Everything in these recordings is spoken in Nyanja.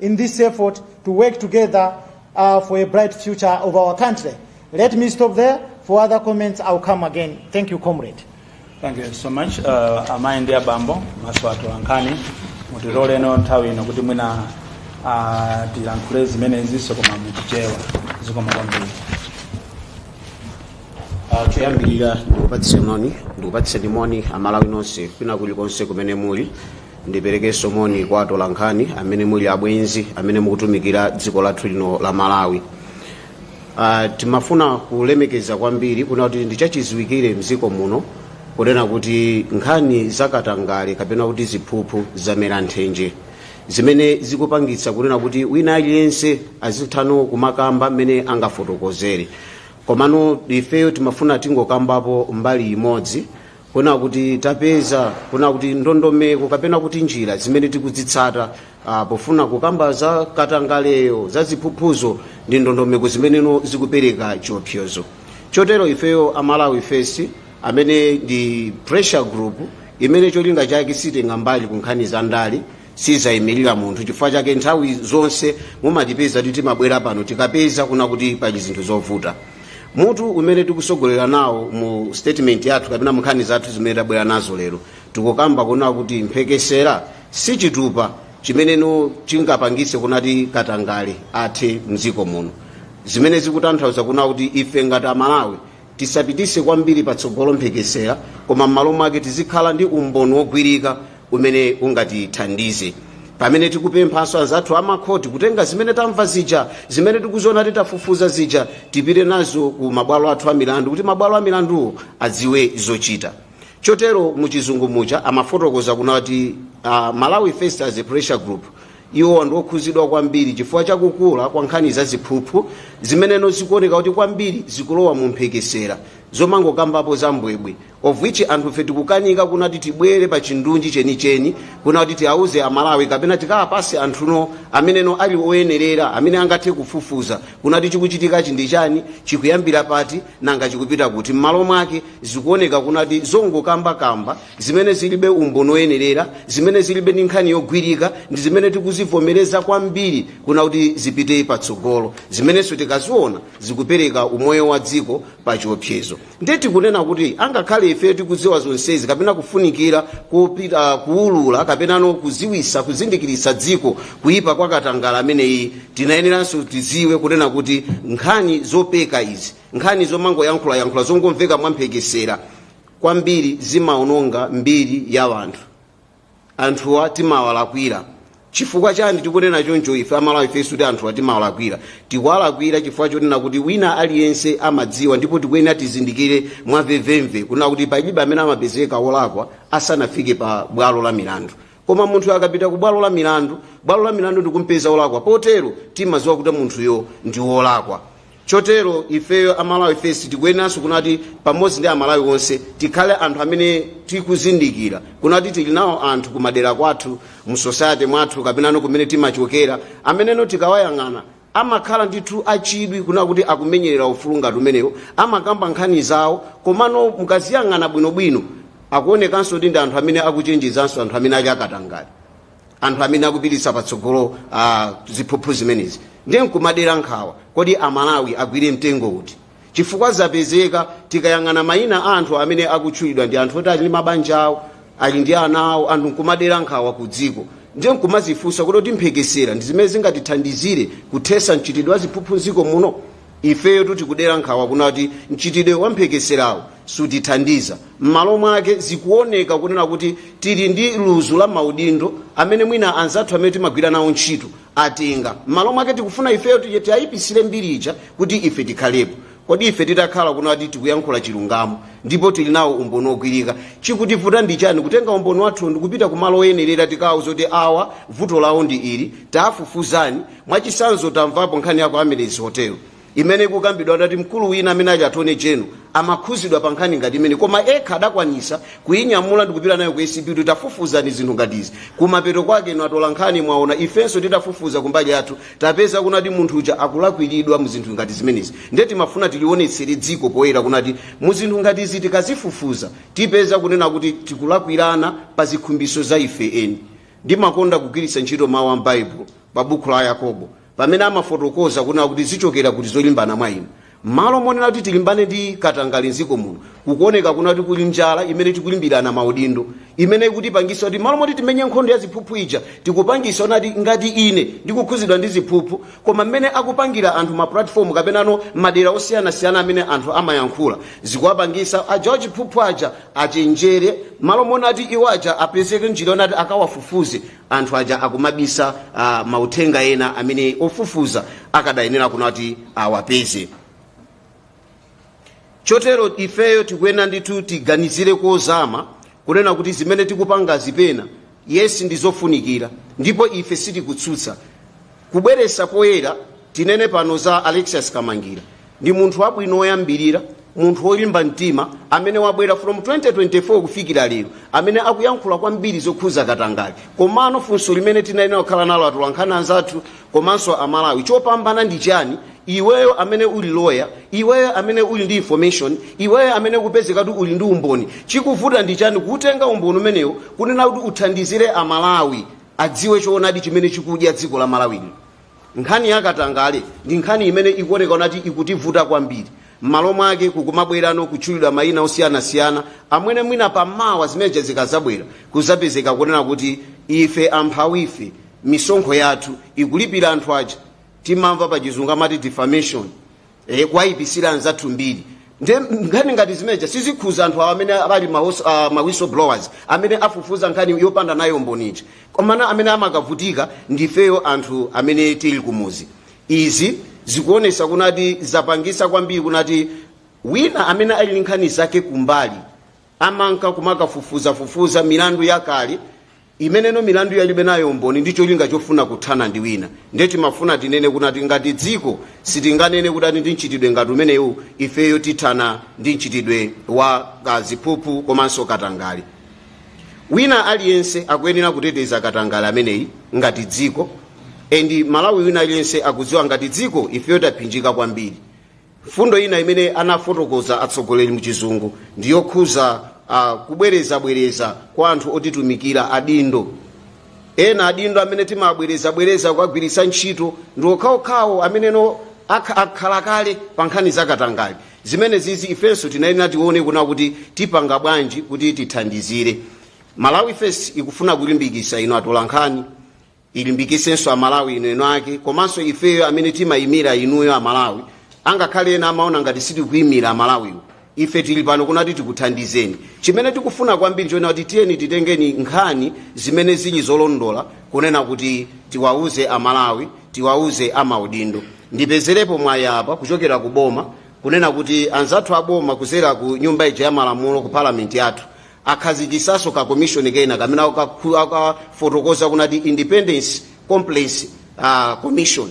in this effort to work together uh, for a bright future of our country. Let me stop there. For other comments, I'll come again. Thank you, comrade. Thank you so much. Uh, amayi ndi abambo mabwenzi athu ankhani mutiloleno nthawi ino kuti mwina uh, tilankhule zimenezinso koma muchichewa zikomo kwambiri Ah, choyambirira ndikupatseni moni amalawi nonse kwina kulikonse kumene muli ndiperekenso moni kwa atolankhani amene muli abwenzi amene mukutumikira dziko lathu lino la malawi uh, timafuna kulemekeza kwambiri kuna kuti ndichachiziwikire mdziko muno kunena kuti nkhani zakatangale kapena kuti ziphuphu zamera nthenje zimene zikupangitsa kunena kuti wina aliyense azithano kumakamba mmene angafotokozere komano ifeyo timafuna tingokambapo mbali imodzi kuna kuti tapeza kuna kuti ndondomeko kapena kuti njira zimene tikudzitsata ah, pofuna kukamba za katangaleyo za ziphuphuzo ndi ndondomeko zimeneno zikupereka chiopsezo chotero ifeyo a Malawi First amene ndi pressure group imene cholinga chake sitenga mbali ku nkhani za ndale sizayimirira munthu chifukwa chake nthawi zonse mumatipeza kuti timabwera pano tikapeza kuna kuti pali zinthu zovuta mutu umene tikusogolera nawo mu statement yathu kapena munkhani zathu zimene tabwera nazo lero tikukamba kuna kuti mphekesera si chitupa chimene chingapangise kunati katangale athe mdziko muno zimene zikutanthauza kuna kuti ife ngati amalawi tisapitise kwambiri patsogolo mphekesera koma m'malo mwake tizikhala ndi umboni wogwirika umene ungatithandize pamene tikupemphanso anzathu amakhoti kutenga zimene tamva zija zimene tikuziona tikafufuza zija tipite nazo ku mabwalo athu a milandu kuti mabwalo a milanduwo adziwe zochita chotero muchizungu muja amafotokoza kunati uh, malawi first as a pressure group Iwowa ndi okhuzidwa kwambiri chifukwa cha kukula kwa nkhani za ziphuphu zimeneno zikuoneka kuti kwambiri zikulowa mu mphekesera zomangokambapo za mbwebwe of which anthufe tikukanika kuna kuti tibwere pa chindunji chenicheni kuna kuti tiauze amalawi kapena tikawapase anthuno ameneno ali oyenerera amene angathe kufufuza kuna kuti chikuchitikachi ndi chani chikuyambira pati nanga chikupita kuti m'malo mwake zikuoneka kuna kuti zongokambakamba zimene zilibe umboni woyenerera zimene zilibe ndi nkhani yogwirika ndi zimene tikuzivomereza kwambiri kuna kuti zipite patsogolo zimenenso tikaziona zikupereka umoyo wa dziko pa chiopsezo ndiye tikunena kuti angakhale ife tikudziwa zonsezi kapena kufunikira kupita kuulula kapenano kuziwisa kuzindikiritsa dziko kuyipa kwa katangale ameneyi tikuyeneranso tiziwe kunena kuti nkhani zopeka izi nkhani zomangoyankhulayankhula zongomveka mwamphekesera kwambiri zimaononga mbiri ya anthu anthuwa timawalakwira chifukwa chani tikunena choncho ife a Malawi First kuti anthuwa timawalakwira tikuwalakwira chifukwa chonena kuti wina aliyense amadziwa ndipo tikuyenera tizindikire mwamvemvemve kunena kuti palibe amene amapezeka wolakwa asanafike pa bwalo la milandu koma munthu akapita ku bwalo la milandu bwalo la milandu ndikumpeza wolakwa potero timadziwa kuti munthuyo ndi wolakwa Chotero ifeyo a Malawi First tikuyeneranso kunati pamodzi ndi Amalawi onse tikhale anthu amene tikuzindikira kunati tili nawo anthu kumadera kwathu, mu society mwathu kapenano kumene timachokera ameneno tikawayang'ana amakhala ndithu achidwi kunena kuti akumenyerera ufulu ngati umenewu, amakamba nkhani zawo komano mukaziyang'ana bwinobwino akuonekanso kuti ndi anthu amene akuchenjezanso anthu amene ali akatangale. anthu amene akupititsa patsogolo uh, ziphuphu zimenezi ndiye nkumadera nkhawa kodi amalawi agwire mtengo uti chifukwa zapezeka tikayang'ana mayina a anthu amene akutchulidwa ndi anthu oti ali ndi mabanja awo ali ndi ana awo anthu nkumadera nkhawa ku dziko ndiye nkumazifunsa kodi mphekesera ndi zimene zingatithandizire kuthesa mchitidwe wa ziphuphu mdziko muno Ifeyotu tikudera nkhawa kunena kuti mchitidwe wa mphekeserawu sutithandiza. M'malo mwake, zikuoneka kunena kuti tili ndi luzu la maudindo amene mwina anzathu amene timagwira nawo ntchito atenga. M'malo mwake tikufuna ifeyo tiwaipitsire mbiri ija kuti ife tikhalepo. Kodi ife titakhala kunena kuti tikuyankhula chilungamo ndipo tili nawo umboni wogwirika, chikutivuta ndi chani kutenga umboni wathuwo ndi kupita kumalo oyenerera tikawauze kuti awa vuto lawo ndi ili, taafufuzani? Mwachitsanzo, tamvapo nkhani ya ku Amaryllis Hotel imene ikukambidwa onati mkulu wina amene ali attorney general amakhuzidwa pa nkhani ngati imeneyi koma ekha adakwanisa kuyinyamula ndikupita nayo ku ACB kuti tafufuzani zinthu ngati izi kumapeto kwake inu atola nkhani mwaona ifenso titafufuza kumbali yathu tapeza kunati munthu uja akulakwiridwa mu zinthu ngati zimenezi nde timafuna tilionetsere dziko poyera kunati mu zinthu ngati izi tikazifufuza tipeza kunena kuti tikulakwirana pa zikhumbiso za ife eni ndimakonda kugwiritsa ntchito mawu a m'baibulo pa buku la yakobo pamene amafotokoza kunena kuti zichokera kuti zolimbana mwa inu mmalo monena kuti tilimbane ndi katangale mdziko muno kukuoneka kunena kuti kuli njala imene tikulimbirana maudindo imene ikutipangisa kuti mmalo moti timenye nkhondo ya ziphuphu ija tikupangisa onati ngati ine ndikukhuzidwa ndi ziphuphu koma mmene akupangira anthu ma platform kapenano madera osiyanasiyana amene anthu amayankhula zikuwapangisa aja wachiphuphu aja achenjere mmalo monati iwo aja apezeke njira onati akawafufuze anthu aja akumabisa uh, mauthenga ena amene ofufuza akadayenera kunati awapeze chotero ifeyo tikuyenera ndithu tiganizire kozama kunena kuti zimene tikupangazi pena yes ndizofunikira ndipo ife sitikutsutsa Kubweretsa poyera, tinene pano za Alexious Kamangira. Ndi munthu wabwino oyambirira, munthu olimba mtima amene wabwera from 2024 kufikira lero, amene akuyankhula kwambiri zokhuza katangale. Komano funso limene tinayenera kukhala nalo atolankhani anzathu komanso a Malawi, chopinga ndi chani iweyo amene uli lawyer, iweyo amene uli ndi information, iweyo amene kupezeka kuti uli ndi umboni, chikuvuta ndi chani kuutenga umboni umenewo kunena kuti uthandizire a Malawi? adziwe choonadi chimene chikudya dziko la malawi lino nkhani ya katangale ndi nkhani imene ikuoneka kunati ikutivuta kwambiri m'malo mwake kukumabwerano kutchulidwa mayina osiyanasiyana amene mwina pamawa zimeneja zikazabwera kuzapezeka kunena kuti ife amphawi ife misonkho yathu ikulipira anthu aja timamva pa chizungu amati defamation e, kuwayipisira anzathu mbiri nde nkhani ngati zimeneja sizikhuza anthu awo amene ali mahos- ah, ma whistleblowers amene afufuza nkhani yopanda nayo umboni ija komano amene amakavutika ndifeyo anthu amene tili kumuzi izi zikuonesa kunati zapangisa kwambiri kunati wina amene ali ndi nkhani zake kumbali amanka kumakafufuzafufuza milandu yakale imene milandu alibe nayo umboni ndi cholinga chofuna kuthana ndi wina ndiye timafuna tinene kunati ngati dziko sitinganene kunati ndi mchitidwe ngati umenewu ifeyo tithana ndi mchitidwe wa kaziphuphu komanso katangale wina aliyense akuyenera kuteteza katangale ameneyi ngati dziko m'Malawi wina aliyense akudziwa ngati dziko ifeyo taphinjika kwambiri mfundo ina imene anafotokoza atsogoleri muchizungu ndi yokhuza uh, kubwerezabwereza kwa anthu otitumikira adindo ena adindo amene timabwerezabwereza kuwagwiritsa ntchito ndi okhaokhawo amene akha- akhala kale pa nkhani zakatangale zimenezizi ifenso tinayenera tione kuna kuti tipanga bwanji kuti tithandizire malawi fes ikufuna kulimbikisa inu atolankhani ilimbikisenso amalawi inu eni ake komanso ifeyo amene timayimira inuyo amalawi angakhale ena amaona ngati sitikuyimira amalawiwo ife tili pano kunati tikuthandizeni chimene tikufuna kwambiri nchonena kuti tiyeni titengeni nkhani zimene zili zolondola kunena kuti tiwauze amalawi tiwauze amaudindo ndipezerepo mwayi apa kuchokera ku boma kunena kuti anzathu aboma kuzera ku nyumba ija ya malamulo ku palamenti yathu akhazikisaso ka commission kena kamene akakhu- akafotokoza kunati independent complaints uh, commission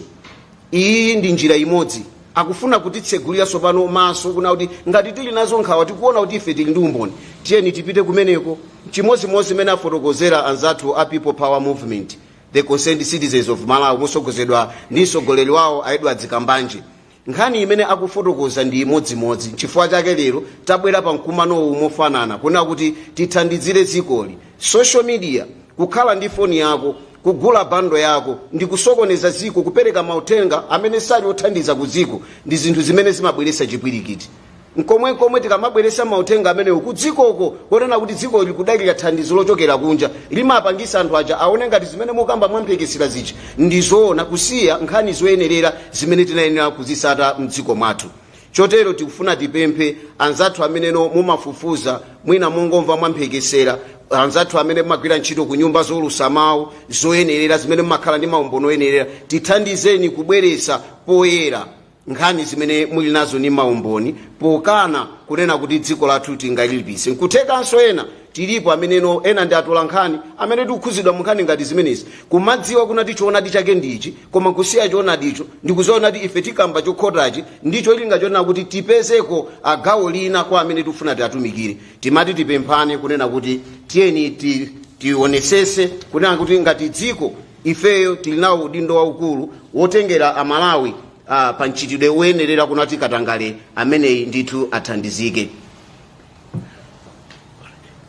iyi ndi njira imodzi akufuna kutitsegulira sopano maso kuna kuti ngati tili nazo nkhawa tikuona kuti ife tili ndi umboni tiyeni tipite kumeneko chimodzimodzi imene afotokozera anzathu a people power movement the concerned citizens of malawi motsogozedwa ndi mtsogoleri wawo a edward kambanje Nkhani imene akufotokoza ndi imodzimodzi nchifukwa chake lero tabwera pa mkumanowu mofanana kunena kuti tithandizire dzikoli. Social media, kukhala ndi foni yako, kugula bundle yako ndi kusokoneza dziko kupereka mauthenga amene sali othandiza ku dziko ndi zinthu zimene zimabweretsa chipwirikiti. mkomwemkomwe tikamabweresa mauthenga amenewu kudzikoko konena kuti dziko likudalira thandizo lochokera kunja limapangisa anthu aja aone ngati zimene mukamba mwamphekesera zija ndi zoona kusiya nkhani zoyenerera zimene tinayenera kuzisata mdziko mwathu chotero tikufuna tipemphe anzathu amene mumafufuza mwina mongomva mwamphekesera anzathu amene mumagwira ntchito ku nyumba zoulusa mawu zoyenerera zimene mumakhala ndi maumboni oyenerera tithandizeni kubweresa poyera nkhani zimene muli nazo ndi maumboni pokhala kunena kuti dziko lathu tingalilipise nkuthekanso ena tilipo amene ena ndi atola nkhani amene tikukhuzidwa mu nkhani ngati zimenezi kumadziwa kunati choonadi chake ndi ichi koma kusiya choonadicho ndikuziona kuti ife tikamba chokhotachi ndi cholinga chonena kuti tipezeko gawo lina kwa amene tikufuna tiatumikire timati tipemphane kunena kuti tiyeni ti tionesese kunena kuti ngati dziko ifeyo tili nawo udindo waukulu wotengera amalawi ah, pa mchitidwe woyenerera kunati katangale ameneyi ndithu athandizike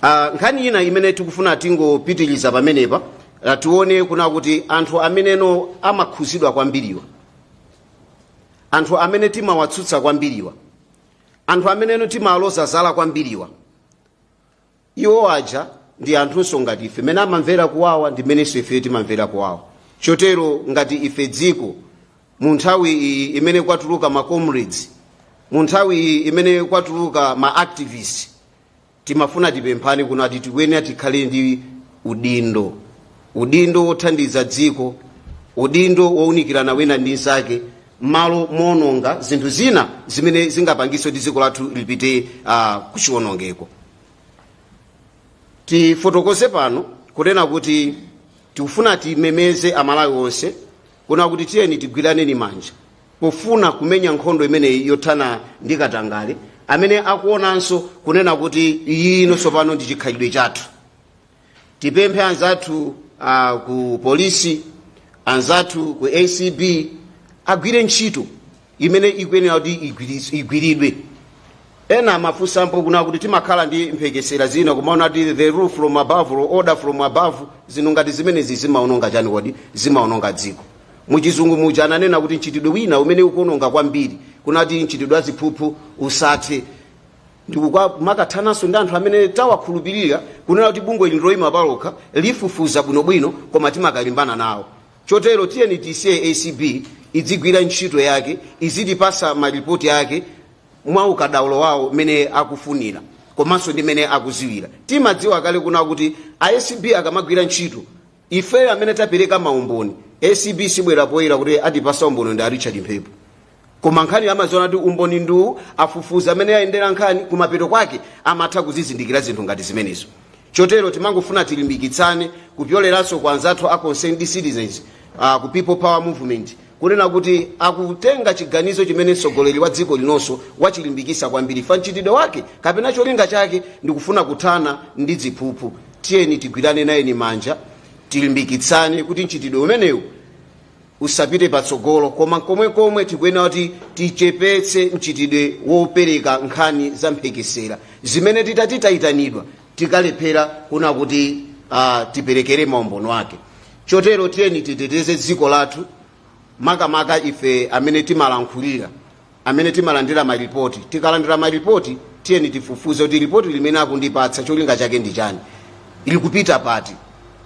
Ah, nkhani ina imene tikufuna tingopitiriza pamenepa ah, tione kuna kuti anthu amene amakhuzidwa kwambiriwa anthu amene timawatsutsa kwambiriwa anthu amene timaloza zala kwambiriwa iwo aja ndi anthunso ngati ife amene amamvera kuwawa ndi menenso ife timamvera kuwawa chotero ngati ife dziko mu nthawi iyi imene kwatuluka ma comrades mu nthawi iyi imene kwatuluka ma activists timafuna tipemphane kunati tikuyenera tikhale ndi udindo udindo wothandiza dziko udindo wounikirana wina ndi nzake mmalo moononga zinthu zina zimene zingapangitse kuti dziko lathu lipite uh, kuchiwonongeko tifotokoze pano kunena kuti tikufuna timemeze amalawi onse kuna kuti tiyeni tigwiraneni manja pofuna kumenya nkhondo imeneyi yothana ndi katangale amene akuonanso kunena kuti iyi ino tsopano ndi chikhalidwe chathu tipemphe anzathu a ku polisi anzathu ku acb agwire ntchito imene ikuyenera kuti igwiris- igwiridwe ena amafunsapo kuna kuti timakhala ndi mphekesera zina kumanena kuti the rule from above or order from above zinthu ngati zimenezi zimaononga chani kodi zimaononga dziko muchizungu muja ananena kuti mchitidwe wina umene ukuononga kwambiri kunati mchitidwe wa ziphuphu usathe n'kumakathananso ndi anthu amene tawakhulupirira kunena kuti bungwe ili loyima palokha lifufuza bwinobwino koma timakalimbana nawo chotero tiyeni tisiye acb idzigwira ntchito yake izitipatsa malipoti ake mwa ukadaulo wawo mmene akufunira komanso ndi mmene akudziwira timadziwa kale kuna kuti acb akamagwira ntchito ifeyo amene tapereka maumboni acb sibwera poyera kuti atipatsa umboni ndi a richard mphepo koma nkhaniyo amaziona kuti umboni ndiwu afufuze mmene yayendera nkhani kumapeto kwake amatha kuzizindikira zinthu ngati zimenezo chotero timangofuna tilimbikitsane kupyoleranso kwa anzathu a concerned citizens uh, ku people power movement kunena kuti akutenga chiganizo chimene mtsogoleri wa dziko linonso wachilimbikitsa kwambiri pa mchitidwe wake kapena cholinga chake ndikufuna kuthana ndi ziphuphu tiyeni tigwirane naoni manja tilimbikitsane kuti mchitidwe umenewu usapite patsogolo koma komwenkomwe tikuyenera kuti tichepetse mchitidwe wopereka nkhani za mphekesera zimene titati tayitanidwa tikalephera kuna kuti uh, tiperekere maumboni ake chotero tiyeni titeteze dziko lathu makamaka ife amene timalankhulira amene timalandira maripoti tikalandira maripoti tiyeni tifufuze kuti ripoti limene akundipatsa cholinga chake ndi chani ilikupita pati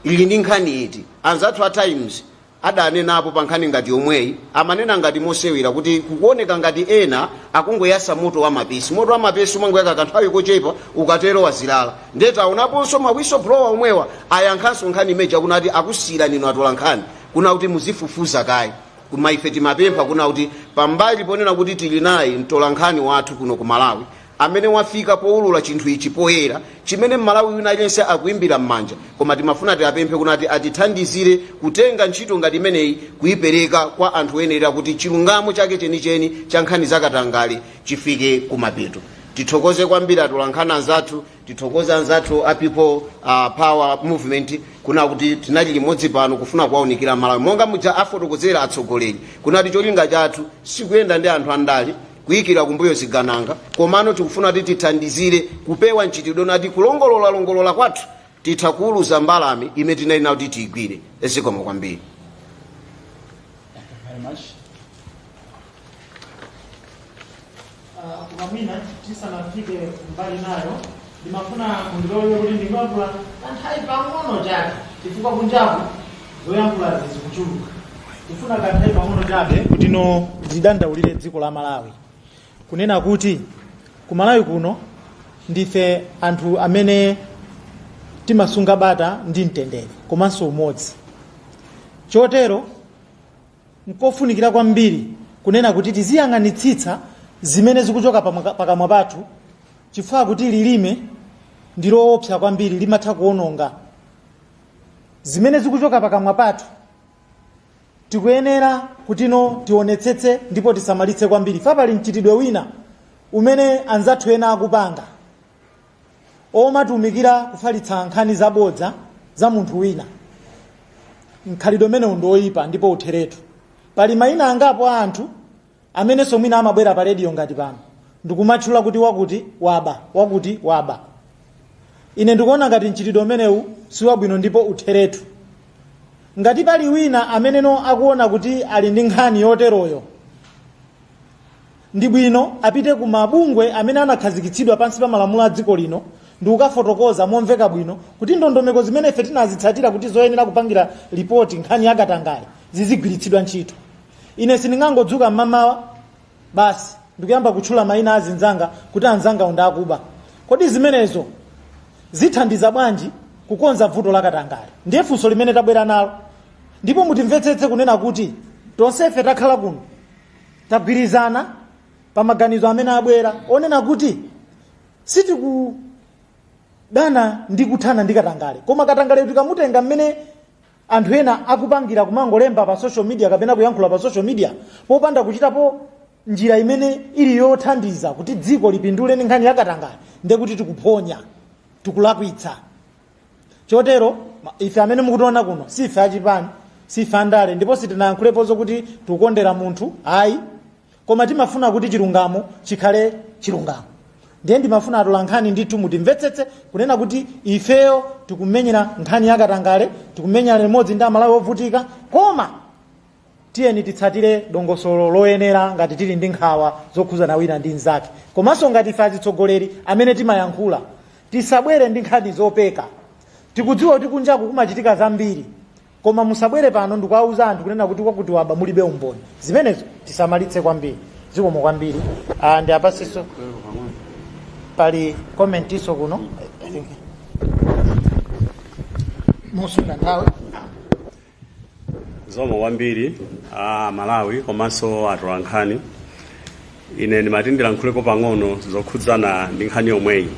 ili ndi nkhani iti anzathu a times adanenapo pa nkhani ngati yomweyi amanena ngati mosewera kuti kukuoneka ngati ena akungoyasa moto wa mapesi moto wa mapesi umangoyaka kanthawi kochepa ukatero wazirala ndiye taonaponso ma whistleblower omwewa ayankhanso nkhani imeja kuna kuti akusiyirani inu atolankhani kuna kuti muzifufuza kaye koma ife timapempha kuna kuti pambali ponena kuti tili naye mtolankhani wathu kuno ku malawi amene wafika poulula chinthu ichi poyera chimene mmalawi wina aliyense akuimbira mmanja koma timafuna tiapemphe kunati atithandizire kutenga ntchito ngati imeneyi kuipereka kwa anthu oyenerera kuti chilungamo chake chenicheni cha nkhani za katangale chifike kumapeto tithokoze kwambiri atolankhani anzathu tithokoze anzathu a people uh, power movement kuna kuti tinali limodzi pano kufuna kuwaunikira malawi monga muja afotokozera atsogoleri kunati cholinga chathu sikuyenda ndi anthu andale kuikira kumbuyo zigananga komano tikufuna kuti tithandizire kupewa mchitidwe nati kulongololalongolola kwathu titha kuuluza mbalame imene tinali nayo kuti tiyigwire zikomo kwambiri very much. Ah, Koma mwina tisanafike mbali nayo Ndimafuna mundilole kuti ndingoyankhula kanthawi pang'ono chabe chifukwa kunjaku zoyankhulazi zikuchuluka. Ndifuna kanthawi pang'ono chabe kutino ndidandaulire dziko la Malawi kunena kuti ku Malawi kuno ndife anthu amene timasunga bata ndi mtendere komanso umodzi chotero Nkofunikira kwambiri kunena kuti tiziyang'anitsitsa zimene zikuchoka pamwa- pakamwa pathu chifukwa kuti lilime ndi loopsa kwambiri limatha kuononga zimene zikuchoka pakamwa pathu tikuyenera kuti tionetsetse ndipo tisamalitse kwambiri fa pali mchitidwe wina umene anzathu ena akupanga omatumikira kufalitsa nkhani zabodza za munthu wina mkhalidwe umenewu ndi oyipa ndipo utheretu pali mayina angapo a anthu amenenso mwina amabwera pa rediyo ngati pano ndikumatchula kuti wakuti waba wakuti waba ine ndikuona ngati mchitidwe umenewu si wabwino ndipo utheretu ngati pali wina amene akuona kuti ali ndi nkhani yoteroyo Ndi bwino apite ku mabungwe amene anakhazikitsidwa pansi pa malamulo a dziko lino ndi kukafotokoza momveka bwino kuti ndondomeko zimene ife tinazitsatira kuti zoyenera kupangira lipoti nkhani ya katangale zizigwiritsidwa ntchito. Ine sindingangodzuka m'mamawa basi ndikuyamba kutchula mayina a anzanga kuti anzangawo ndi akuba. Kodi zimenezo zithandiza bwanji kukonza vuto la katangale? Ndiye funso limene tabwera nalo. Ndipo mutimvetsetse kunena kuti tonsefe takhala kuno tagwirizana pa maganizo amene abwera onena kuti sitikudana ndi kuthana ndi katangale koma katangale tikamutenga mmene anthu ena akupangira kumangolemba pa social media kapena kuyankhula pa social media popanda kuchitapo njira imene ili yothandiza kuti dziko lipindule ndi nkhani ya katangale ndekuti tikuphonya tikulakwitsa chotero ma- ife amene mukutiona kuno si ife achipani si ife andale ndipo sitinayankhulepo zokuti tikukondera munthu ayi koma timafuna kuti chilungamo chikhale chilungamo ndiye ndimafuna atola nkhani ndithu mutimvetsetse kunena kuti ifeyo tikumenyera nkhani yakatangale tikumenyera limodzi ndi amalawi ovutika koma Tiyeni titsatire dongosolo loyenera ngati tili ndi nkhawa zokhudzana wina ndi mzake. Komanso ngati ife azitsogoleri amene timayankhula, tisabwere ndi nkhani zopeka. Tikudziwa kuti kunjaku kumachitika zambiri, koma musabwere pano ndikuwauza anthu kunena kuti wakuti waba mulibe umboni. Zimenezo tisamalitse kwambiri. Zikomo kwambiri. Ah, ngati paliponso pali commentinso kuno. I think. Mosunga nthawi. zikomo kwambiri aMalawi komanso atolankhani ine ndimati ndilankhuleko pang'ono zokhudzana ndi nkhani yomweyi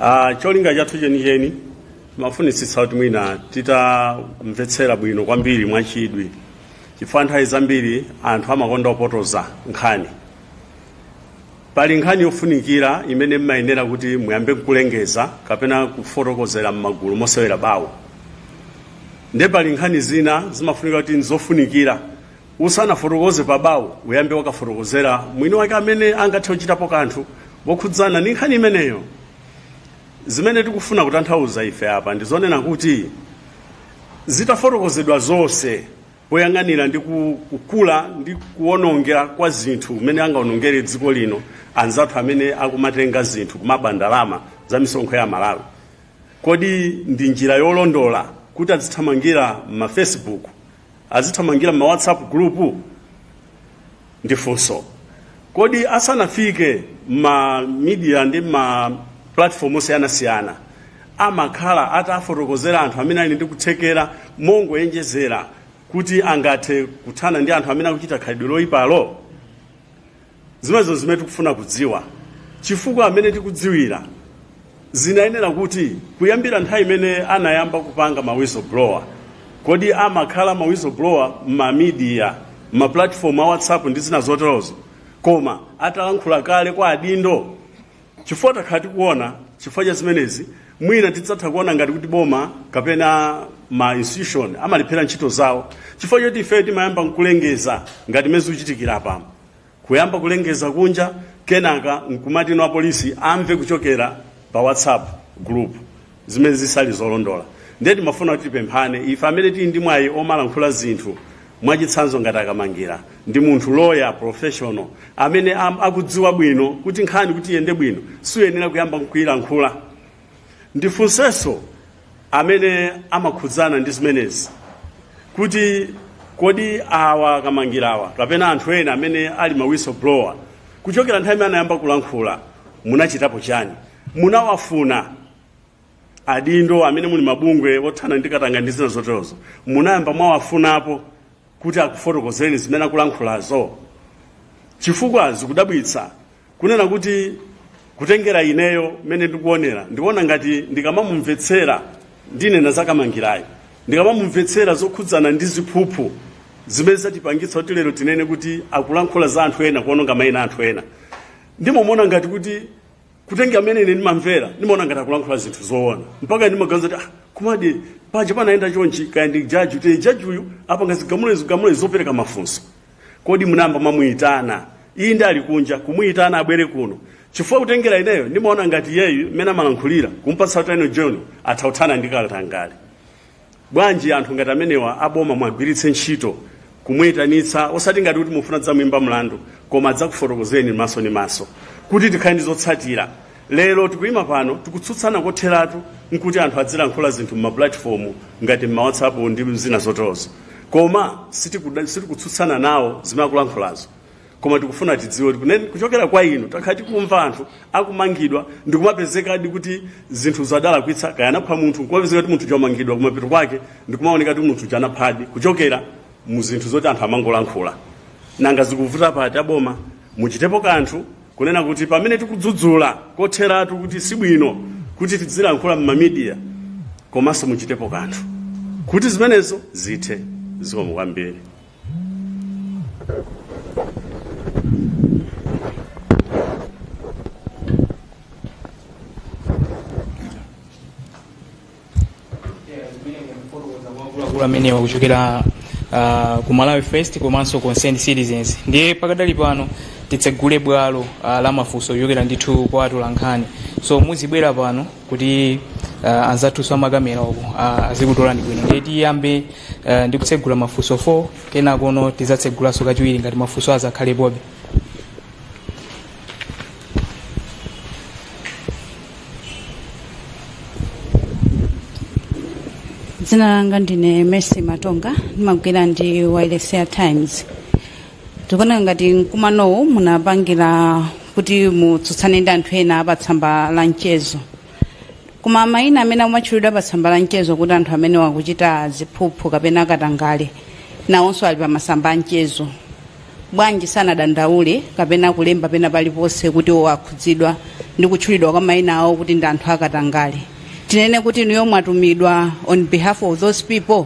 Ah, cholinga chathu chenicheni timafunitsitsa kuti mwina titamvetsera bwino kwambiri mwachidwi chifukwa nthawi zambiri anthu amakonda kupotoza nkhani Pali nkhani yofunikira imene mmayenera kuti muyambe nkulengeza kapena kufotokozera mmagulu mosewera bawo. Nde pali nkhani zina zimafunika kuti nzofunikira usanafotokoze pa bawo uyambe wakafotokozera mwini wake amene angathe kuchitapo kanthu wokhudzana ndi nkhani imeneyo. Zimene tikufuna kutanthauza ife apa ndizonena kuti zitafotokozedwa zonse poyang'anira ndi kukula ndi kuwonongera kwa zinthu kumene angawonongere dziko lino anzathu amene akumatenga zinthu kumaba ndalama za misonkho ya Malawi. Kodi ndi njira yolondola kuti azithamangira mma Facebook, azithamangira mma WhatsApp group? Ndifunso kodi asanafike ma media ndi ma platform osiyanasiyana amakhala atafotokozera anthu amene ali ndi kuthekera mongoyerekezera kuti angathe kuthana ndi anthu amene akuchita khalidwe loyipalo zimenezo zimene tikufuna kudziwa chifukwa mmene tikudziwira Zinayenera kuti kuyambira nthawi imene anayamba kupanga ma whistleblower, kodi amakhala ma whistleblower mma media, mma platform a WhatsApp ndi zina zoterozo, koma atalankhula kale kwa adindo? Chifukwa takhala tikuona chifukwa cha zimenezi mwina tidzatha kuona ngati kuti boma kapena ma institution amalephera ntchito zawo chifukwa choti ifeyo timayamba nkulengeza ngati mmene zikuchitikira apamo. kuyamba kulengeza kunja kenaka nkumati no apolisi amve kuchokera pa whatsapp group zimene zisali zolondola ndiye timafuna kuti tipemphane ife amene tili ndi mwayi omalankhula zinthu mwachitsanzo ngati a Kamangira ndi munthu loya professional amene am- akudziwa bwino kuti nkhani kuti iyende bwino suyenera kuyamba kuyilankhula Ndifunsenso amene amakhudzana ndi zimenezi kuti kodi awa a Kamangirawa kapena anthu ena amene ali ma whistleblower kuchokera nthawi imene anayamba kulankhula munachitapo chani munawafuna adindo amene muli mabungwe othana ndi katangale ndi zina zoterozo munayamba mwawafunapo kuti akufotokozereni zimene akulankhulazo? Chifukwa zikudabwitsa kunena kuti kutengera ineyo mmene ndikuonera, ndikuona ngati ndikamamumvetsera ndinena za Kamangirayo, ndikamamumvetsera zokhudzana ndi ziphuphu zimene zatipangitsa kuti lero tinene kuti akulankhula za anthu ena, kuononga mayina a anthu ena, ndimamuona ngati kuti kutengera mmene ine ndimamvera ndimaona ngati akulankhula zinthu zoona mpaka ndimaganiza kuti ah, kumadi paja panayenda chonchi kaya ndi jaji kuti jaji uyu apanga zigamulo zigamulo zopereka mafunso kodi munayamba mwamuyitana iye ndi ali kunja kumuyitana abwere kuno chifukwa kutengera ineyo ndimaona ngati iyeyu mmene amalankhulira kumpatsa utano john atha kuthana ndi katangale Bwanji anthu ngati amenewa a boma muwagwiritse ntchito kumuitanitsa osati ngati kuti mufuna kudzamuimba mlandu koma adzakufotokozeni maso ndi maso kuti tikhale ndi zotsatira. Lero tikuima pano tikutsutsana kotheratu nkuti anthu azilankhula zinthu m'mapulatifomu ngati m'ma WhatsApp ndi zina zoterozo, koma sitikuda- sitikutsutsana nawo zimene akulankhulazo. koma tikufuna tidziwe kuti kune- kuchokera kwa inu takhala tikumva anthu akumangidwa ndikumapezekadi kuti zinthu zinadalakwika kaya anapha munthu kumapezeka kuti munthu uja wamangidwa kumapeto kwake ndikumaoneka kuti munthu uja anaphadi kuchokera mu zinthu zoti anthu amangolankhula nanga zikuvuta pati aboma muchitepo kanthu kunena kuti pamene tikudzudzula kotheratu kuti sibwino kuti tidzilankhula m'mamidiya komanso muchitepo kanthu kuti zimenezo zithe zikomo kwambiri akuluakulu amenewa kuchokera ah, ku Malawi First komanso Concerned Citizens ndiye pakadali pano titsegule bwalo ah, la mafunso kuchokera ndithu kwa atolankhani so muzibwera pano kuti uh, anzathuso amakamera uku uh, azikutolani bwino ndiye tiyambe uh, ndi kutsegula mafunso 4 kenakono tidzatsegulanso kachiwiri ngati mafunso azakhalepobe dzina langa ndine Mercy Matonga ndimagwira ndi wailesi ya Times tikuona ngati mkumanowu munapangira kuti mutsutsane ndi anthu ena pa tsamba la mchezo koma mayina amene amatchulidwa pa tsamba la mchezo kuti anthu amenewa akuchita ziphuphu kapena akatangale nawonso ali pa masamba a mchezo bwanji sanadandaule kapena kulemba pena paliponse kuti iwo akhudzidwa ndi kutchulidwa kwa mayina awo kuti ndi anthu akatangale tinene kuti inuyo mwatumidwa on behalf of those people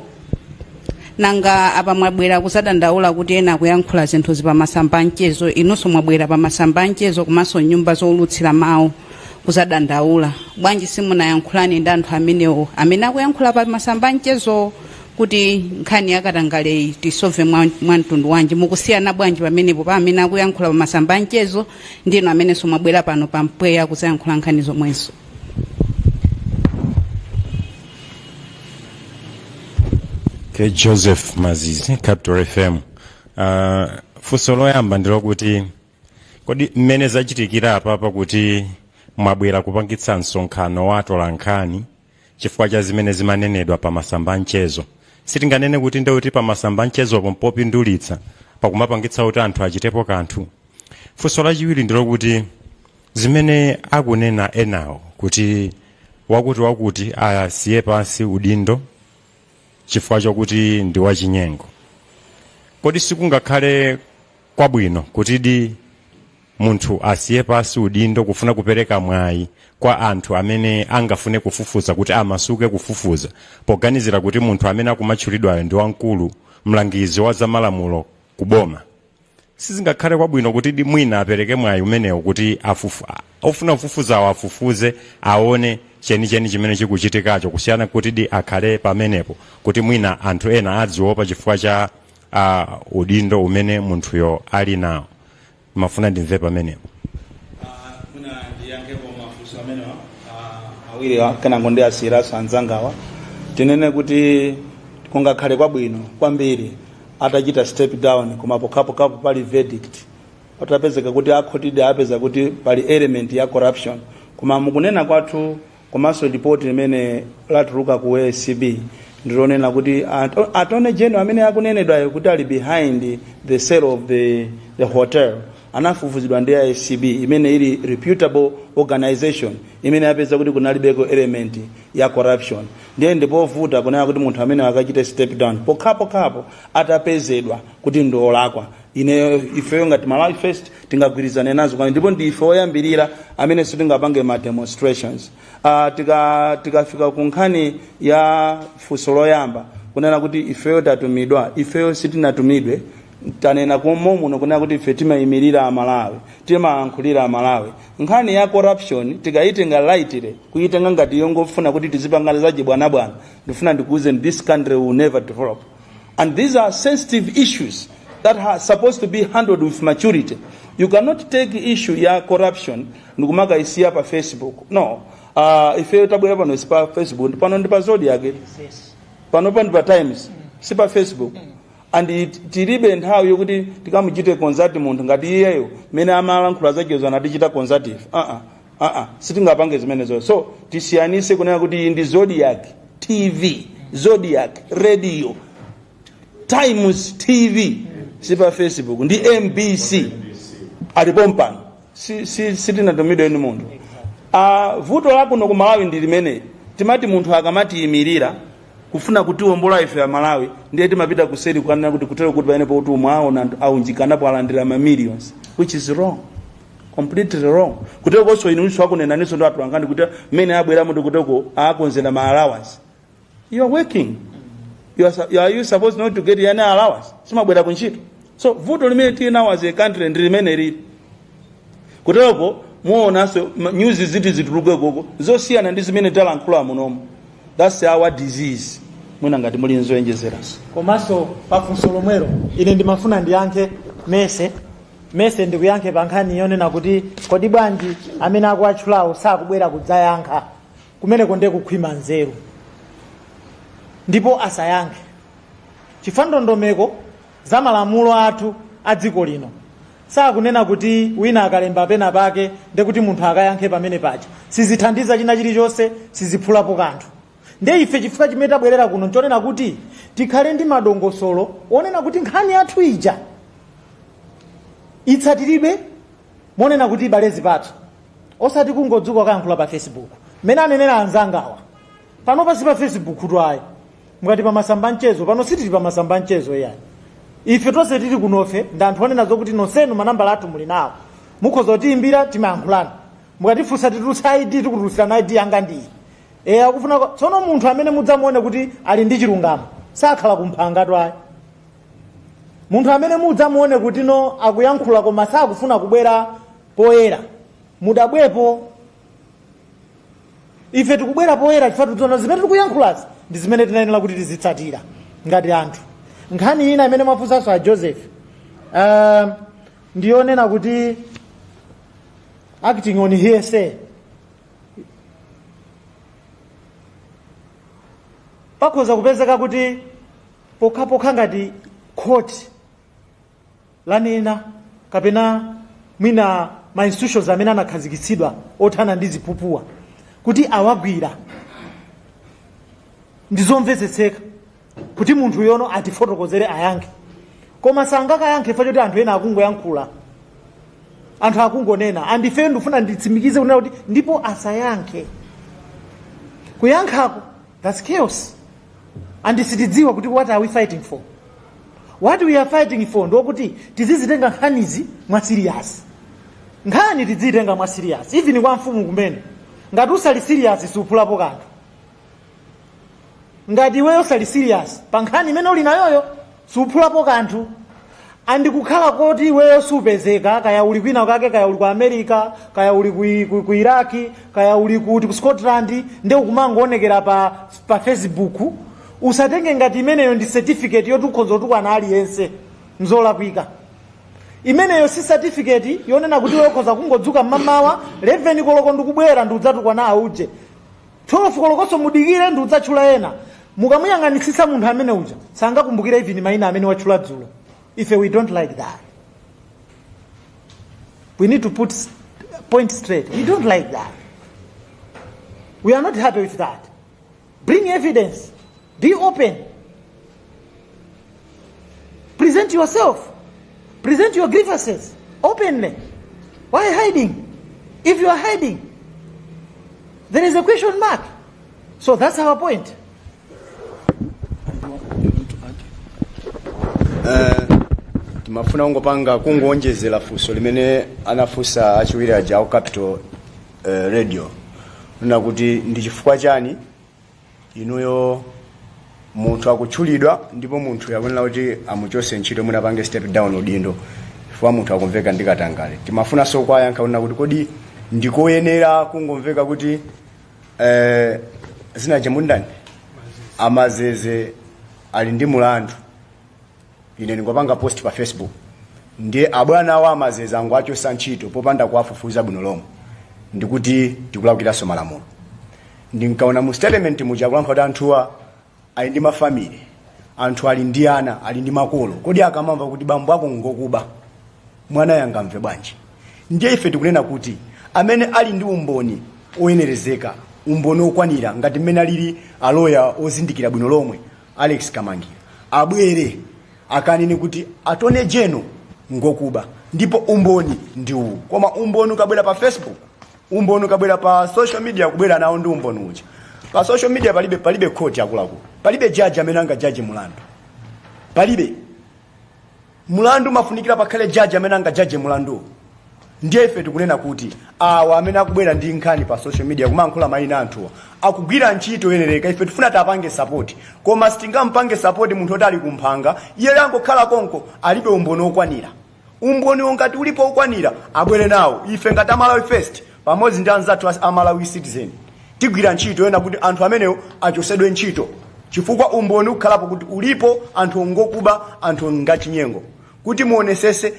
nanga apa mwabwera kuzadandaula kuti ena akuyankhula zinthuzi pa masamba anchezo inunso mwabwera pa masamba anchezo komanso nyumba zowulutsira mawu kuzadandaula bwanji simunayankhulane ndi anthu amenewo amene akuyankhula pa masamba anchezo kuti nkhani yakatangaleyi tisove mwa mwa mtundu wanji mukusiyana bwanji pamenepo pa amene akuyankhula pa masamba anchezo ndi inu amenenso mwabwera pano pa mpweya kuzayankhula nkhani zomwezo okay, Joseph Mazizi Capital FM uh, funso loyamba ndilokuti kodi mmene zachitikira apapa kuti mwabwera kupangitsa msonkhano wa atolankhani chifukwa cha zimene zimanenedwa pa masamba anchezo sitinganene kuti ndekuti pa masamba anchezopo mpopindulitsa pakumapangitsa kuti anthu achitepo kanthu funso lachiwiri ndilokuti Zimene akunena enawo kuti wakutiwakuti asiye pansi udindo chifukwa chokuti ndi wachinyengo, kodi sikungakhale kwabwino kutidi munthu asiye pansi udindo kufuna kupereka mwayi kwa anthu amene angafune kufufuza kuti amasuke kufufuza poganizira kuti munthu amene akumatchulidwayo ndi wamkulu mlangizi wa zamalamulo ku boma? sizingakhale kwabwino kutidi mwina apereke mwayi umenewo kuti afufu, a- ofuna kufufuzawo afufuze aone chenicheni chimene chikuchitikacho kusiyana kutidi akhale pamenepo kuti mwina anthu ena adziopa chifukwa cha uh, udindo umene munthuyo ali nawo ndimafuna ndimve pamenepo Mwina ndiyankhepo mafunso amenewa ah, awiriwa kenango ndiwasiyiranso anzangawa tinene kuti kungakhale kwabwino kwambiri atachita step down koma pokhapokhapo pali verdict patapezeka kuti akhotidi apeza kuti pali element ya corruption koma mukunena kwathu komanso report limene latuluka ku acb ndilonena kuti at- attorney general amene akunenedwayo kuti ali behind the sale of the, the hotel anafufuzidwa ndi acb imene ili reputable organization imene yapeza kuti kunalibeko element ya corruption ndiye ndipovuta kunena kuti munthu amene akachite step down pokhapokhapo atapezedwa kuti ndi wolakwa ineyo ifeyo ngati malawi first tingagwirizane nazo kwani ndipo ndi ife oyambirira amene sitingapange ma demonstrations uh, tika tikafika ku nkhani ya funso loyamba kunena kuti ifeyo tatumidwa ifeyo sitinatumidwe tanena kale muno kunena kuti ife timayimirira amalawi timayankhulira amalawi Nkhani ya corruption tikayitenga lightly, kuyitenga ngati yongofuna kuti tizipanga zachibwanabwana, ndifuna ndikuwuzeni this country will never develop and these are sensitive issues that are supposed to be handled with maturity. You cannot take issue ya corruption ndikumakayisiya pa Facebook. No. Uh, ifeyo tabwera pano si pa Facebook, pano ndi pa Zodiac, pano ndi pa Times, si pa Facebook. and tilibe nthawi yokuti tikamuchite consult munthu ngati iyeyo mmene amalankhula zakezo anatichita consult ife aa aa sitingapange zimenezo so tisiyanise kunena kuti iyi ndi zodiac tv zodiac radio times tv si pa facebook ndi mbc alipo pompano si, si, sitinatumidwe ndi munthu uh, vuto lakuno ku malawi ndi limene timati munthu akamatiyimirira kufuna kutiwombola ife amalawi ndiye timapita kuseri kukanena kuti kutero kuti pamene poti umwe aona anthu aunjikanapo alandira ma millions which is wrong completely wrong kutero konso inunso akunenaniso ndi atulangani kuti mmene abweramo ndi kuteko akonzera ma allowance you are working you are, su- you are you supposed not to get any allowance simumabwera ku ntchito so vuto limene tili nawo as a country ndi limene lilipo muonanso ma- news ziti zituluke koko zosiyana ndi zimene talankhula munomo that's our disease mwina ngati muli nzoonjezeranso komanso pafunso lomwelo ine ndimafuna ndiyankhe mese mese ndikuyankhe pa nkhani yonena kuti kodi bwanji amene akuwatchulawo sakubwera kudzayankha kumeneko ndiye kukhwima nzeru ndipo asayankhe chifukwa ndondomeko za malamulo athu a dziko lino sakunena kuti wina akalemba pena pake ndiye kuti munthu akayankhe pamene paja sizithandiza china chilichonse siziphulapo kanthu ndiye ife chifukwa chimene tabwerera kuno nchonena kuti tikhale ndi madongosolo onena kuti nkhani yathu ija itsatiridwe monena kuti ibale zipatso osati kungodzuka kukayankhula pa facebook mmene anenera anzangawa pano si pa facebook tu ayi mukuti pa masamba a mchezo pano sitili pa masamba a mchezo iyayi ife tonse tili kunofe ndi anthu onena zokuti nonsenu manambala athu muli nawo mukhoza kutiyimbira timayankhulana mukatifunsa titulutsa id tikutulutsirani id yanga ndiyi eya akufuna ko- tsono munthu amene mudzamuone kuti ali ndi chilungamo sakhala kumphanga tu ayi munthu amene mudzamuone kuti no akuyankhula koma sakufuna kubwera poyera mudabwepo ife tikubwera poyera chifukwa tikudziwa kuti zimene tikuyankhulazi ndi zimene tinayenera kuti tizitsatira ngati anthu nkhani ina imene mwafunsanso a joseph um, ndiyonena kuti acting on hearsay pakhoza kupezeka kuti pokhapokha ngati khoti lanena kapena mwina ma institutions amene anakhazikitsidwa othana ndi ziphuphuwa kuti awagwira ndi zomvetseka kuti munthu uyo no atifotokozere ayankhe koma sangakayankhe chifukwa choti anthu ena akungoyankhula anthu akungonena and ifeyo ndifuna nditsimikize kunena kuti ndipo asayankhe kuyankhako thats chaos and sitidziwa kuti what are we fighting for what we are fighting for ndi yakuti tizizitenga nkhanizi mwa serious nkhani tidzitenga mwa serious even kwa mfumu kumene ngati usali serious suphulapo kanthu ngati iweyo usali serious pa nkhani imene uli nayoyo suphulapo kanthu and kukhala koti iweyo supezeka kaya uli kwina kake kaya uli ku america kaya uli ku, ku, ku iraki kaya uli kuti ku scotland nde ukumangoonekera pa, pa facebook Usatenge ngati imeneyo ndi certificate yoti ukhonza kutukwana aliyense nzolakwika. Imeneyo si certificate yonena kuti iwe ukhoza kungodzuka mmamawa 11 koloko ndikubwera ndidzatukwana auje. 12 kolokoso mudikire ndidzatchula ena. Mukamuyang'anitsitsa munthu amene uja sangakumbukire even maina amene watchula dzulo. Ife we don't like that. We need to put s- point straight. We don't like that. We are not happy with that. Bring evidence. Be open. Present yourself. Present your grievances openly. Why hiding? If you are hiding, there is a question mark. So that's our point. timafuna kungopanga kungoonjezera funso limene anafunsa achiwiri aja au capital eh, radio kunena kuti ndi chifukwa chani inuyo munthu akutchulidwa ndipo munthu akuyenera kuti amuchose ntchito mwina pange step down udindo chifukwa munthu akumveka ndi katangale timafunanso kuwayankha kunena kuti kodi ndikoyenera kungomveka kuti eh, zinachake mundani amazeze ali ndi mulandu ine ndikapanga post pa facebook ndiye abwana awo amazeza angowachosa ntchito popanda kuwafufuza bwino lomwe ndikuti tikulakwiraso malamulo ndinkaona mu statement muja akulankhula kuti anthuwa ali ndi mafamily anthuwa ali ndi ana ali ndi makolo kodi akamamva kuti bambo ako ngokuba mwanayo angamve bwanji ndiye ife tikunena kuti amene ali ndi umboni oyenerezeka umboni okwanira ngati mmene alili aloya ozindikira bwino lomwe alex kamangira abwere akanene kuti attorney general ngokuba ndipo umboni ndi uwu koma umboni ukabwera pa facebook umboni ukabwera pa social media kubwera nawo ndi umboni uja pa social media palibe palibe khoti akuluakulu palibe jaji amene angajaje mulandu palibe mulandu umafunikira pakhale jaji amene angajaje mulanduwo ndiye ife tikunena kuti awa amene akubwera ndi nkhani pa social media kumatchula mayina anthuwa akugwira ntchito yoyenereka ife tikufuna tiwapange sapoti koma sitingampange sapoti munthu oti ali kumphanga iye wangokhala konko alibe umboni okwanira umboni wo ngati ulipo okwanira abwere nawo ife ngati a malawi first pamodzi ndi anzathu a Malawi Citizen tigwira ntchito yoona kuti anthu amenewo achosedwe ntchito chifukwa umboni ukhalapo kuti ulipo anthu ngokuba anthu ngachinyengo kuti muonesese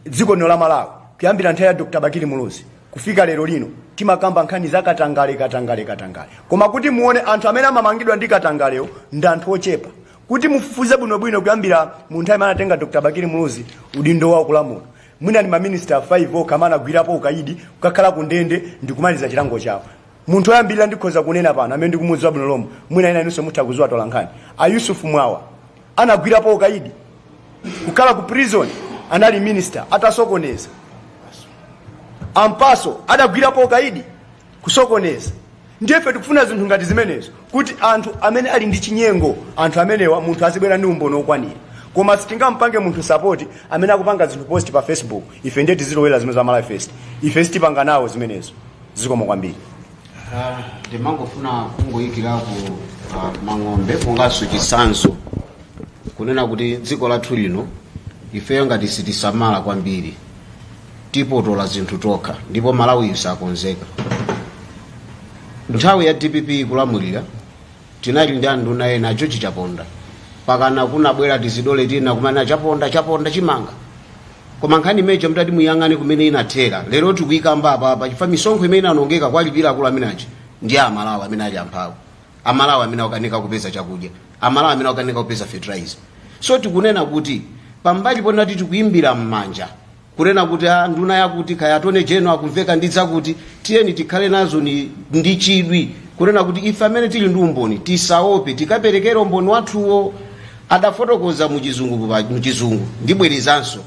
dziko lino la Malawi kuyambira nthawi ya Dr. Bakili Muluzi kufika lero lino timakamba nkhani za katangale katangale katangale koma kuti muone anthu amene amamangidwa ndi katangalewo ndi anthu ochepa kuti mufufuze bwinobwino kuyambira mu nthawi imene anatenga Dr. Bakili Muluzi udindo wawo wolamula mwina ndi maminister 5 okha amene anagwirapo ukaidi kukakhala ku ndende ndi kumaliza chilango chawo munthu oyambirira ndikhoza kunena pano amene ndikumudziwa bwino lomwe mwina ena inunso mutha kudziwa tolankhani a yusuf mwawa anagwirapo ukaidi kukhala ku prison anali minister atasokoneza a mpasu adagwirapo ukaidi kusokoneza ndiye ife tikufuna zinthu ngati zimenezo kuti anthu amene ali ndi chinyengo anthu amenewa munthu azibwera ndi umboni wokwanira koma sitingampange munthu sapoti amene akupanga zinthu post pa facebook ife nde tizilowera zimene za malawi first ife sitipanga nawo zimenezo zikomo kwambiri Ah, ndimangofuna kungoyikirako ah, mang'ombe monganso chitsanzo kunena kuti dziko lathu lino ifeyo ngati sitisamala kwambiri tipotola zinthu tokha ndipo malawiyu sakonzeka nthawi ya dpp ikulamulira tinali ndi anduna ena ajoji chaponda pakana kunabwera tizidole tina kumana chaponda chaponda chimanga koma nkhani imeneyo mtati muyang'ane kumene inathera lero tikuyikamba apapa chifukwa misonkho imene inanongeka kwalipira akulu amenachi ndi amalawi amene ali amphawi amalawi amene akukanika kupeza chakudya amalawi amene akukanika kupeza fertilizer so tikunena kuti pambali ponena kuti tikuimbira mmanja kunena kuti a ah, nduna yakuti kaya attorney general akumveka ndi zakuti tiyeni tikhale nazo ni ndi chidwi kunena kuti ife amene tili ndi umboni tisaope tikaperekera umboni wathuwo adafotokoza muchizungu muchizungu ndibwerezanso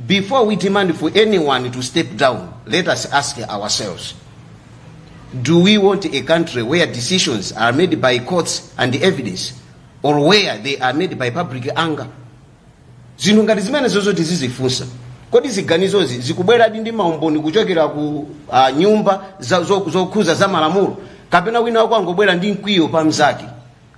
Before we demand for anyone to step down, let us ask ourselves, do we want a country where decisions are made by courts and evidence or where they are made by public anger? zinthu ngati zimenezo zoti tizizifunsa kodi ziganizozi zikubweradi ndi maumboni kuchokera ku uh, nyumba za- zo- zokhuza za malamulo kapena wina wake wangobwera ndi mkwiyo pa mzake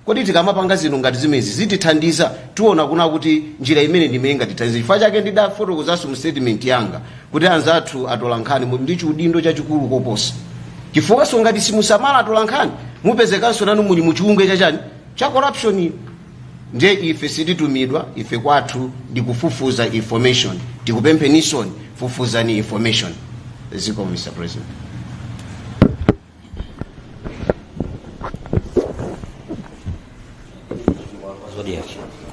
Kodi tikamapanga zinthu ngati zimenezi zitithandiza? Tiona kunena kuti njira imeneyi ndi imene ingatithandize. Chifukwa chake ndidafotokozanso mu statement yanga kuti anzathu atolankhani muli ndi chiudindo chachikulu koposa. Chifukwanso ngati simusamala atolankhani mupezekanso nanu muli mu chiunyolo cha chani cha corruption. Ndiye ife sititumidwa, ife kwathu ndi kufufuza information. Tikupempheninsoni fufuzani information. Ziko Mr. President.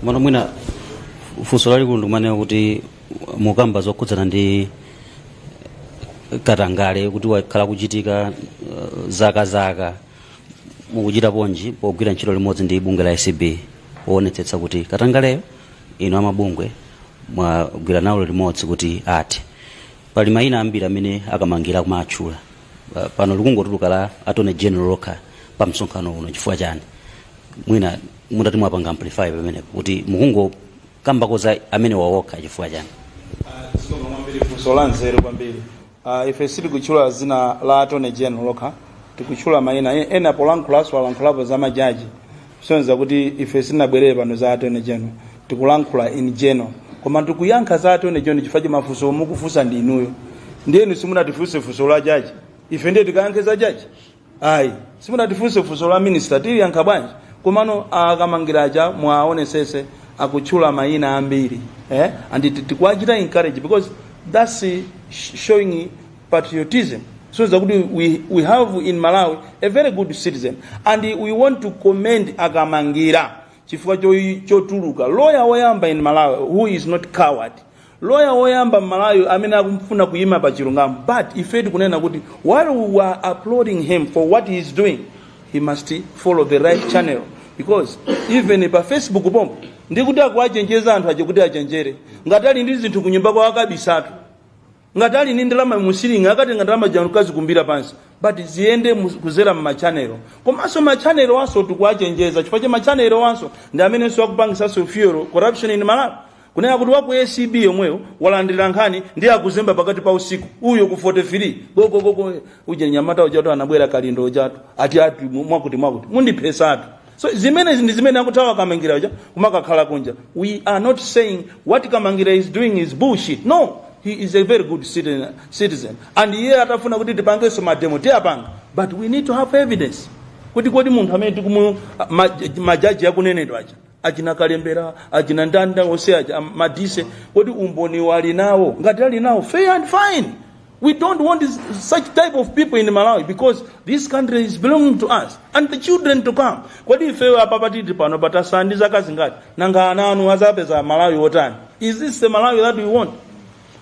komano mwina funso lalikulu ndikumanena kuti mukamba zokhudzana ndi katangale kuti wakhala ukuchitika uh, zaka zaka mukuchita bwanji pogwira ntchito limodzi ndi bungwe la acb woonetsetsa kuti katangaleyo inu amabungwe mwagwira nawo limodzi kuti ati pali mayina ambiri amene akumangowatchula Pa- pano likungotuluka dzina la attorney general lokha pa msonkhano uno chifukwa chani mwina mutati mwapanga amplify pamenepo kuti mukungokambako za amenewa okha chifukwa chani funso la nzeru kwambiri uh, ife sitikutchula dzina la attorney general lokha tikutchula mayina E- ena polankhulanso alankhulapo za majaji sonza kuti ife sitinabwerere pano za Attorney General tikulankhula in general koma tikuyankha za Attorney General chifukwa cha mafunso omwe mukufunsa ndi inuyo ndiye inu simunatifunse funso la jaji ife ndiye tikayankhe za jaji ayi simunatifunse funso la minista tiliyankha bwanji komano akamangira aja mwaonetsetsa akutchula mayina ambiri eh? and tikuwachita encourage because that's showing patriotism shows kuti we have in Malawi a very good citizen and we want to commend Akamangira chifukwa chotuluka lawyer woyamba in Malawi who is not coward lawyer woyamba Malawi amene akufuna kuyima pa chilungamo but ife tikunena kuti while we are applauding him for what he is doing he must follow the right channel because even pa Facebook pompo ndikuti akuwachenjeza anthu aja kuti achenjere ngati ali ndi zinthu kunyumba kwawo akabisatu ngati ali ndi ndalama musiling akatenge ndalama zija kazikumbira pansi but ziyende mu- kuzera mmachanelo komanso machanelo anso tikuwachenjeza chifukwa cha machanelo anso ndi amenenso akupangitsanso fuel corruption in malawi kunena kuti waku acb yomweyo walandira nkhani ndiye akuzemba pakati pa usiku uyo ku 43 gogogogo uja nyamata ujatu anabwera kalindo ujatu ati ati mwakuti mwakuti mundiphesatu So zimenezi ndi zimene akuthawa kamangira uja kumakakhala kunja. We are not saying what kamangira is doing is bullshit. No, he is a very good citizen, citizen. and iye atafuna kuti tipangenso mademo tiyapanga but we need to have evidence kuti kodi munthu amene tikumu majaji akunenedwa aja achina kalembera achina ndanda onse aja madise kodi umboni ali nawo ngati ali nawo fair and fine We don't want such type of people in Malawi because this country is belonging to us and the children to come. Kodi ifeyo apapa tili pano tatsala ndi zaka zingati nanga ana anu azapeza Malawi wotani? Is this the Malawi that we want?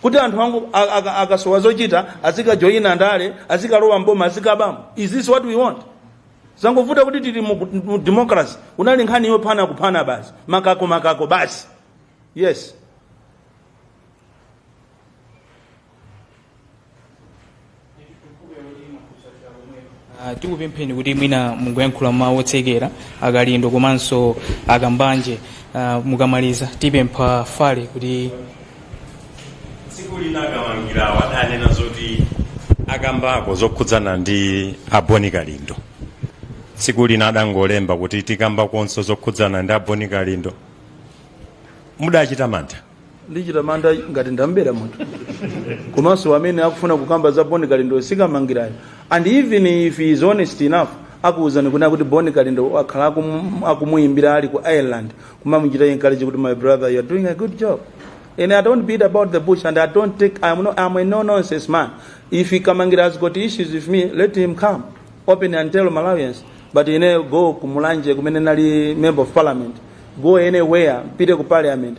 kuti anthu ango akasowa zochita azikajoyina ndale azikalowa mboma azikabamo is this what we want zangovuta kuti tili mu democracy inali nkhani yophana kuphana basi makako makako basi yes Ah, tikupempheni kuti mwina mungoyankhula mawu otsekera akalindo komanso akambanje ah, mukamaliza tipempha pare kuti tsiku lina akamangira wadanena zoti akambako zokhudzana ndi a Bon Kalindo tsiku lina adangolemba kuti tikambakonso zokhudzana ndi a Bon Kalindo mudachita mantha ndichita manyazi ngati ndambera munthu komanso amene akufuna kukamba za boni kalindo sikamangirayo and even if he is honest enough akuuzani kunena kuti boni kalindo akhala akum- akumuyimbira ali ku ireland kumamuchita encourage kuti my brother you are doing a good job and i don't beat about the bush and i don't take i'm, no, I'm a no nonsense man if he kamangira has got issues with me let him come open and tell malawians but ine go ku mulanje kumene ndili member of parliament go anywhere pite ku parliament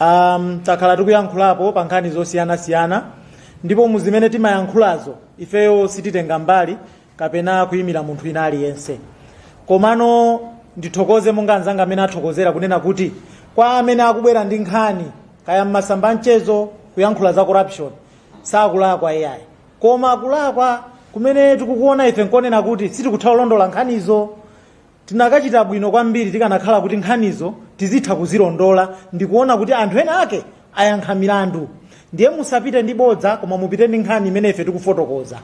um, takhala tikuyankhulapo pa nkhani zosiyanasiyana ndipo mu zimene timayankhulazo ifeyo sititenga mbali kapena kuyimira munthu ina aliyense komano ndithokoze monga anzanga amene athokozera kunena kuti kwa amene akubwera ndi nkhani kaya mmasamba anchezo kuyankhula za corruption sakulakwa iyayi koma kulakwa kumene tikukuona ife nkonena kuti sitikutha kulondola nkhanizo Tinakachita bwino kwambiri tikanakhala kuti nkhanizo tizitha kuzilondola ndikuona kuti anthu ena ake ayankha milandu. Ndiye musapite ndi bodza koma mupite ndi nkhani imene ife tikufotokoza.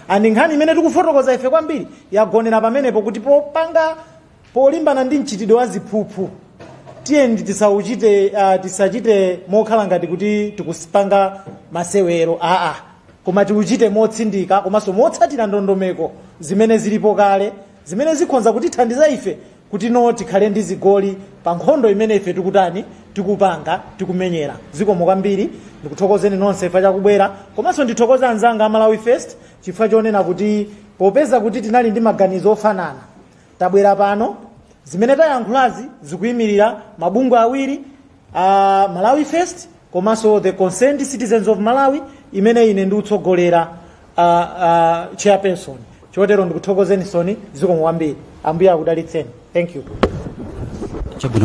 And nkhani imene tikufotokoza ife kwambiri yagonera pamenepo kuti popanga polimbana ndi mchitidwe wa ziphuphu tiyeni tisauchite uh, tisachite mokhala ngati kuti tikupanga masewero aa koma tiuchite motsindika komanso motsatira ndondomeko zimene zilipo kale Zimene zikhonza kutithandiza ife kuti no tikhale ndi zigoli pa nkhondo imene ife tikutani, tikupanga, tikumenyera. Zikomo kwambiri. Ndikuthokozeni nonse chifukwa cha kubwera. Komanso ndithokoze anzanga a Malawi First chifukwa chonena kuti popeza kuti tinali ndi maganizo ofanana, tabwera pano. Zimene tayankhulazi zikuimirira mabungwe awiri, a malawi first komanso the concerned citizens of malawi imene ine ndikutsogolera uh, uh, chairperson chotero ndikuthokozenisoni zikomo kwambiri ambuye akudalitseni thank you chabwino